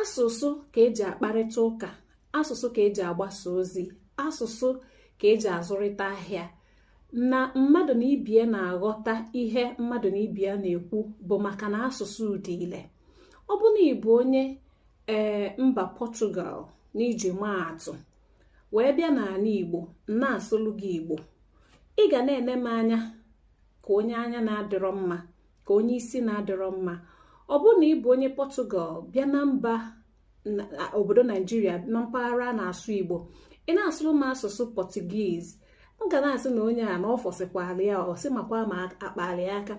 asụsụ ka eji akparịta ụka asụsụ ka eji agbasa ozi asụsụ ka eji azụrịta ahịa na mmadụ na ibie na-aghọta ihe mmadụ na ibie na-ekwu bụ maka na asụsụ dị ile ọ bụ na ị bụ onye ee eh, mba pọtugal n'iji maa atụ wee bịa n'ana igbo na-asụlụ gị igbo ị ga na-ene m anya ka onye anya na-adịrọ mma ka onye isi na-adịrọ mma ọ bụrụ na ị bụ onye pọtụgal bịa na mba obodo naijiria na mpaghara a na-asụ igbo ị na-asụrụ m asụsụ pọtugiz m ga na-asị na onye a na ọ fọsịkwara ya ọsị makwa ma akpali aka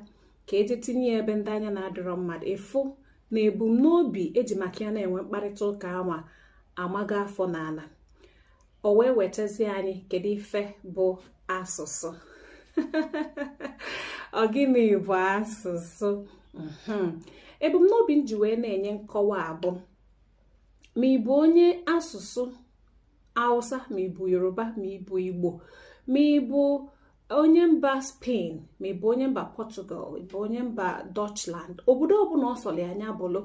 ka eje tinye ebe ndị anya na-adịrọ mma dụ ị fụ na ebumnobi eji maka ya na-enwe mkparịta ụka anwa amaga afọ n'ana o wee wetazie anyị kedu ife bụ asụsụ ọ gịnị bụ asụsụ hmm. ebumnobi m ji wee na-enye nkọwa a bụ ma ị bụ onye asụsụ Hausa ma ị bụ Yoruba ma ị bụ Igbo ma ị bụ onye mba Spain ma ị bụ onye mba Portugal ị bụ onye mba Dutchland obodo ọbụla ọ sọlụ nya bụlụ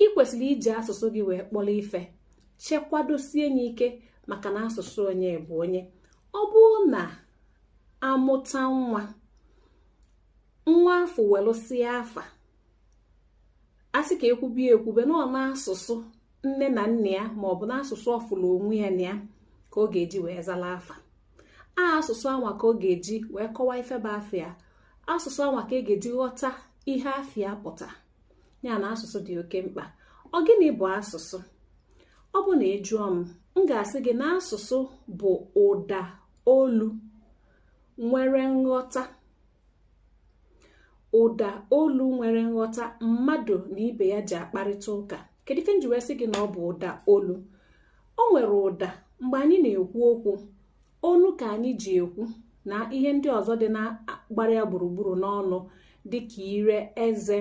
ị kwesịrị iji asụsụ gị wee kpọrọ ife chekwadosie nye ike maka na asụsụ onye bụ onye ọ bụrụ na amụta nwa nwa afụ welụsịa afa a sị ka ekwube ya ekwube na ọ n'asụsụ nne na nna ya ma ọ bụ n'asụsụ ọ fụlụ onwe ya na ya ka ọ ga-eji wee zala afa a asụsụ anwa ka ọ ga-eji wee kọwaa ife bụ afa ya asụsụ anwa ka e ga-eji ghọta ihe afa ya pụta ya na asụsụ dị oke mkpa ọ gịnị bụ asụsụ ọ bụ na ị jụọ m m ga-asị gị na asụsụ bụ ụda olu nwere nghọta ụda olu nwere nghọta mmadụ na ibe ya ji akparịta ụka kedu ife m ji wee sị gị na ọ bụ ụda olu o nwere ụda mgbe anyị na-ekwu okwu onu ka anyị ji ekwu na ihe ndị ọzọ dị na-agbara ya gburugburu n'ọnụ dịka ire eze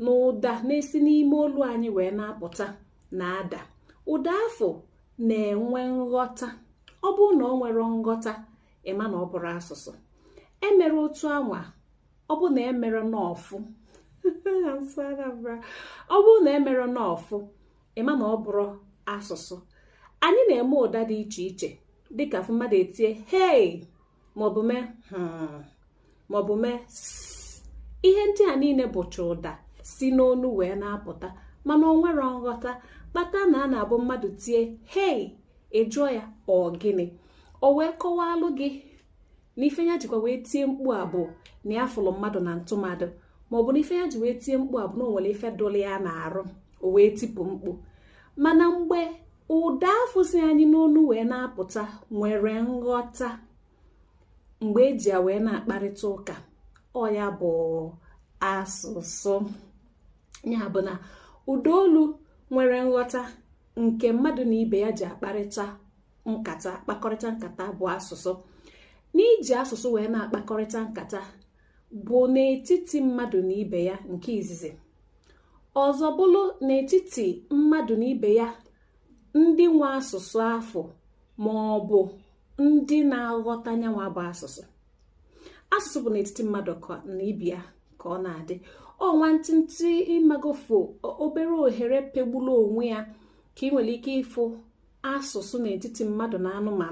na ụda na-esi n'ime olu anyị wee na-apụta na-ada ụda afụ na-enwe nghọta ọ bụrụ na o nwerọ nghọta ị ma na ọ bụrọ asụsụ emere otu anwa ọ bụ na emere nọọfụ ọ bụrụ na emere nọọfụ ị ma na ọ bụrọ asụsụ anyị na-eme ụda dị iche iche dịka a fụ mmadụ etie hei maọbụ mee hmm, maọbụ mee ihe ndị a niile bụcha ụda si n'onu wee na-apụta mana o nwerọ nghọta kpata na a na-abụ mmadụ tie hei ị jụọ ya ọ gịnị o wee kọwalụ gị na ife ya jikwa wee tie mkpu a bụ na ya fụlụ mmadụ na ntụmadụ ma ọ bụ na ife ya ji wee tie mkpu a bụ na o nwere ife dụlụ ya n'arụ o wee tipụ mkpu mana mgbe ụda afụ si anyị n'ọnụ wee na-apụta nwere nghọta mgbe e ji ya wee na-akparịta ụka ọ ya bụ asụsụ ya bụ na ụda olu nwere nghọta nke mmadụ na ibe ya ji akparịta nkata kpakọrịta nkata bụ asụsụ n'iji asụsụ wee na-akpakọrịta nkata bụ n'etiti mmadụ na ibe ya nke izizi ọzọ bụlụ n'etiti mmadụ na ibe ya ndị nwe asụsụ afụ ma ọ bụ ndị na-aghọta nyanwa bụ asụsụ asụsụ bụ n'etiti mmadụ na ibe ya ka ọ na-adị ọ nwantịntị ị magofo obere ohere pegburu onwe ya ka i nwere ike ịfụ asụsụ n'etiti mmadụ na anụmanụ